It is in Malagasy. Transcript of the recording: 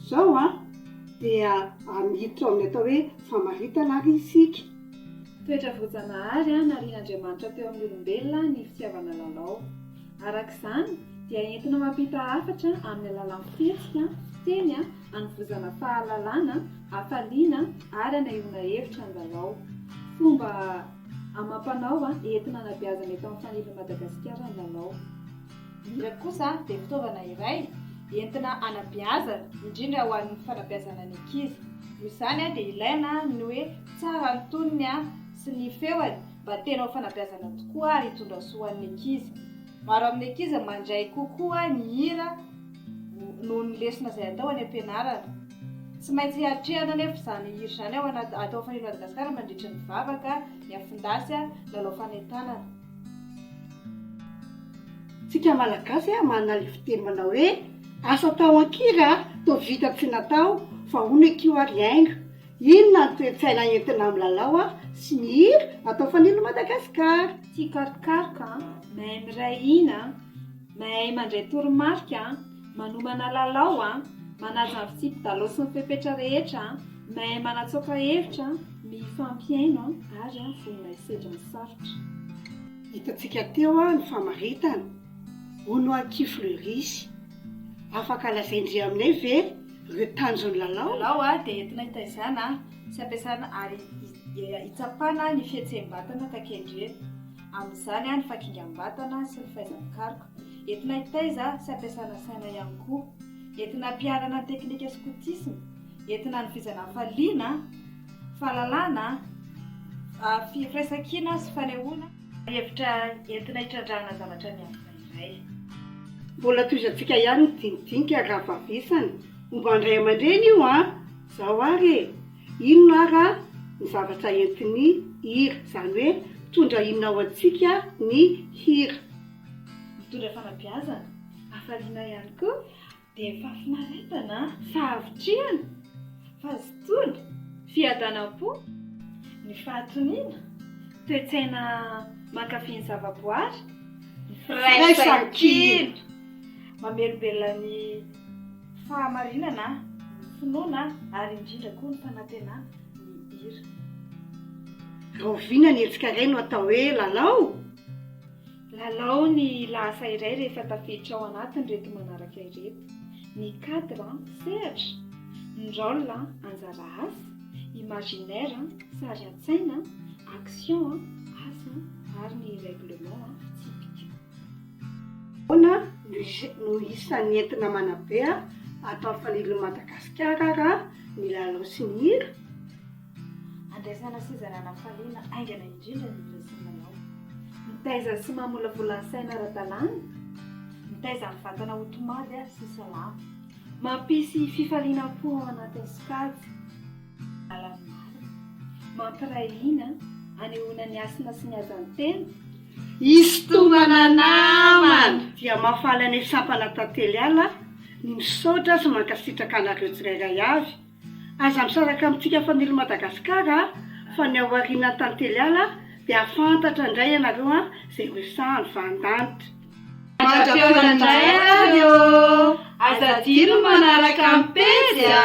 Izao an, dia miditra ao amin'ny atao hoe famaritana ary isika. Toetra voajanahary narian'Andriamanitra teo amin'ny olombelona ny fitiavana lalao. Araka izany, dia entina mampita hafatra amin'ny alalan'ny fihetsika, teny, hanovozana fahalalana, hafaliana, ary hanahiona hevitra ny lalao. Fomba amam-panao entina hanabeazana eto amin'ny fanirian'i Madagasikara ny lalao. Hira kosa dia fitaovana iray entina hanabeazana, indrindra ho an'ny fanabeazana ny ankizy. Noho izany dia ilaina ny hoe tsara ny tonony sy ny feony mba tena ho fanabeazana tokoa ary hitondra soa ho an'ny ankizy. Maro amin'ny ankizy mandray kokoa ny hira noho ny lesona izay atao any am-pianarana. Tsy maintsy hatrehana anefa izany hira izany ao anaty, atao ao Fanilo Madagasikara mandritra ny vavaka, ny afon-dasy na lalao fanentanana. Tsika malagasy a manana le fiteny manao hoe asa atao an-kira toa vita tsy natao fa hono eky io ary haingo, inona ny toe-tsaina entina milalao a sy mihira atao fanilo Madagascar. Tia karokaroka an, mahay miray hina an, mahay mandray toromarika an. Manomana lalao an! Manaja ny fitsipidalao sy ny fepetra rehetra an! Mahay manatsoaka hevitra an! Mifampihaino an! Ary an! Vonona hisedra ny sarotra. Hitantsika teo ny famaritana, hoy ny Aky Fleuris. Afaka lazain-dry aminay ve ireo tanjon'ny lalao? Ny lalao dia entina hitaizana sy hampiasana ary hitsapana ny fihetseham-batana takian-dry. amin'izany ny fakingam-batana sy ny faizam-pikaroka, entina hitaiza sy hampiasana saina ihany koa, entina hampiharana ny teknika skotisma, entina hanovizana hafaliana, fahalalana, firaisankina sy fanehoana, ary hevitra entina hitrandrahana zavatra miafina iray. Mbola tohizantsika ihany ny dinidinika raha vavesana momba ny ray aman-dreny io an! Zao ary e! Inona ara ny zavatra entin'ny hira? Izany hoe mitondra inona ho antsika ny hira? Mitondra fanabeazana, hafaliana ihany koa, dia fahafinaretana, fahavitrihana, fahazotoana, fiadanam-po, ny fahatoniana, toe-tsaina mankafy ny zavaboary, ny firaisankina, mamelombelona ny. fahamarinana, ny finoana ary indrindra koa ny fanantenana ny hira. Rahoviana ny hetsika iray no atao hoe lalao? Lalao ny lahasa iray rehefa tafiditra ao anatin'ireto manaraka ireto, ny cadre, sehatra, ny rôle, anjara asa, imaginaire, sary an-tsaina, action, asa, ary ny règlement, fitsipika. Ahoana no isan'ny entina manabe ato amin'ny fanirian'i Madagasikara raha ny lalao sy ny hira? Andraisana sy izarana hafaliana haingana indrindra ny hira sy ny lalao. Mitaiza sy mamolavola ny saina ara-dalàna, mitaiza ny vatana ho tomady sy salama. Mampisy fifalianam-po ao anatin'ny sokajy. Lalana marina, mampiray hina, anehoana ny hasina sy ny hajan'ny tena. Isintomana namana! Dia mahafaly anay sampana Tantely Ala aho ny misaotra sy mankasitraka anareo tsirairay avy. Aza misaraka amintsika Family Madagascar a! Fa ny ao aorianan'ny Tantely Ala dia hahafantatra indray ianareo an! Izay ho resahan'ny Vahandanitra. Mandra-pihaona indray ary ô! Aza adino ny manaraka ny pejy a!